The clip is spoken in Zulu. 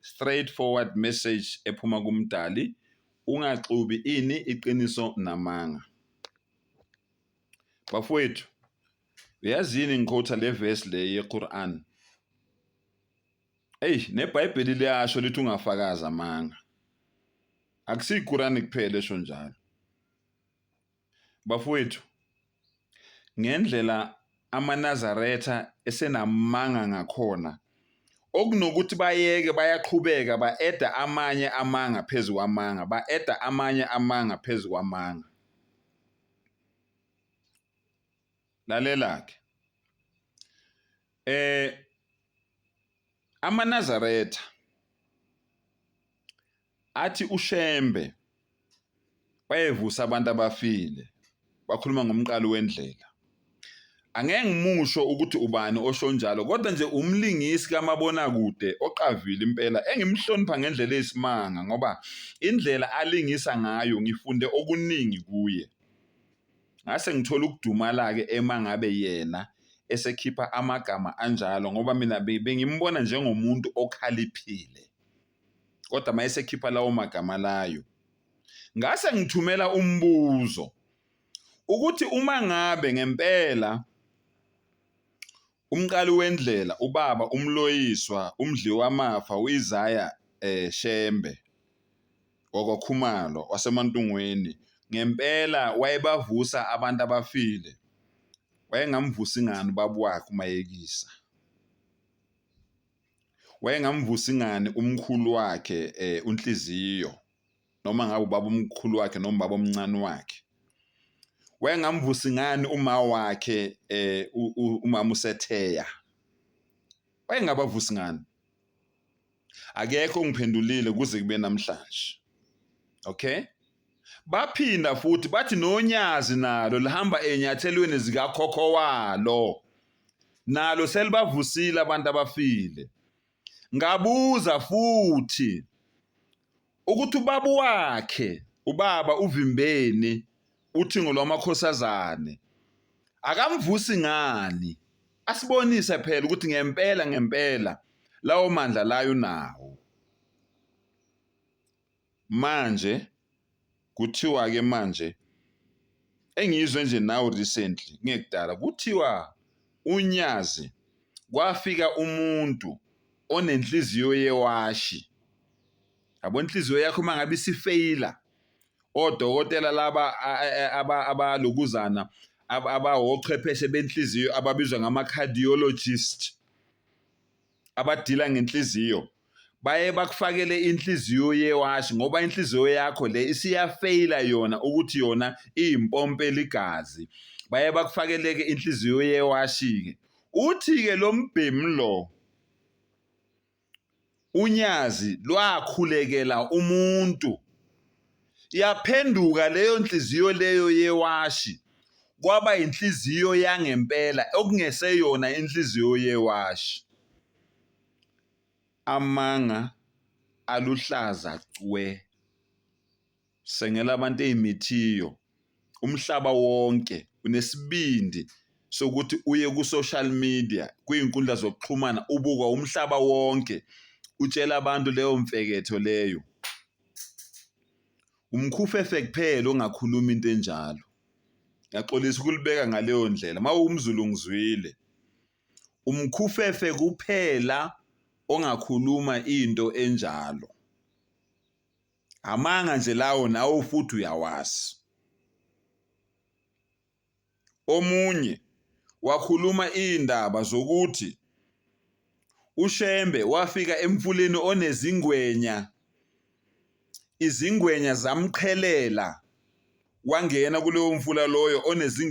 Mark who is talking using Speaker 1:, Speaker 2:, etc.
Speaker 1: straight forward message ephuma kumdali ungaxubi ini iqiniso namanga bafowethu uyazi yini ngiqotha le verse le yeQuran eyi nebhayibheli liyasho lithi ungafakazi amanga akusiyiqurani kuphela esho njalo Bafowethu, ngendlela amaNazaretha esenamanga ngakhona, okunokuthi bayeke bayaqhubeka ba-eda amanye amanga phezu kwamanga, ba-eda amanye amanga phezu kwamanga. Lalela-ke. Eh amaNazaretha Athi uShembe wayevusa abantu abafile wakhuluma ngomqali wendlela. Angeke ngimusho ukuthi ubani osho njalo kodwa nje umlingisi kamabonakude oqavile impela engimhlonipha ngendlela eyisimanga ngoba indlela alingisa ngayo ngifunde okuningi kuye. Ngase ngithola ukudumala-ke emangabe yena esekhipha amagama anjalo ngoba mina bengimbona njengomuntu okhaliphile. kodwa mayesekhipha lawo magama layo ngase ngithumela umbuzo ukuthi uma ngabe ngempela umqali wendlela ubaba umloyiswa umdliwamafa uIsaiah eh, Shembe wakwaKhumalo waseMantungweni ngempela wayebavusa abantu abafile wayengamvusi ngani ubaba wakhe umayekisa wayengamvusa ingani umkhulu wakhe eh, unhliziyo noma ngabe ubaba umkhulu wakhe noma ubaba omncane wakhe wayengamvusa ingani uma wakhe eh, umama usetheya wayengabavusi ngani akekho ongiphendulile kuze kube namhlanje okay Baphinda futhi bathi noNyazi nalo lihamba enyathelweni zikakhokho walo. Nalo selibavusile abantu abafile. Ngabuza futhi ukuthi ubaba wakhe, ubaba uVimbeni, uthingo lwamakhosazane. Akamvusi ngani? Asibonise phela ukuthi ngempela ngempela lawo mandla layo nawo. Manje kuthiwa ke manje engizwe nje now recently kungekudala kuthiwa uNyazi kwafika umuntu onenhliziyo yewashi yabo inhliziyo yakho uma ngabe isifeyila odokotela laba abalokuzana abawochwepheshe benhliziyo ababizwa ngama-cardiologist. abadila ngenhliziyo baye bakufakele inhliziyo yewashi ngoba inhliziyo yakho le isiyafeyila yona ukuthi yona iyimpompe ligazi baye bakufakeleke inhliziyo yewashi-ke uthi-ke lo mbhemu lo unyazi lwakhulekela umuntu Yaphenduka leyo nhliziyo leyo yewashi kwaba inhliziyo yangempela okungeseyona inhliziyo yewashi. Amanga aluhlaza cwe. Sengela abantu ey'mithiyo umhlaba wonke unesibindi sokuthi uye ku-social media kwiy'nkundla zokuxhumana ubukwa umhlaba wonke utshela abantu leyo mfeketho leyo. Umkhufefe kuphela ongakhuluma into enjalo. Ngiyaxolisa ukulibeka ngaleyo ndlela uma uwumZulu ngizwile. Umkhufefe kuphela ongakhuluma into enjalo. Amanga nje lawo nawo futhi uyawazi. Omunye wakhuluma iy'ndaba zokuthi uShembe wafika emfuleni onezingwenya, izingwenya zamqhelela wangena kuloyo mfula loyo onezingwenya.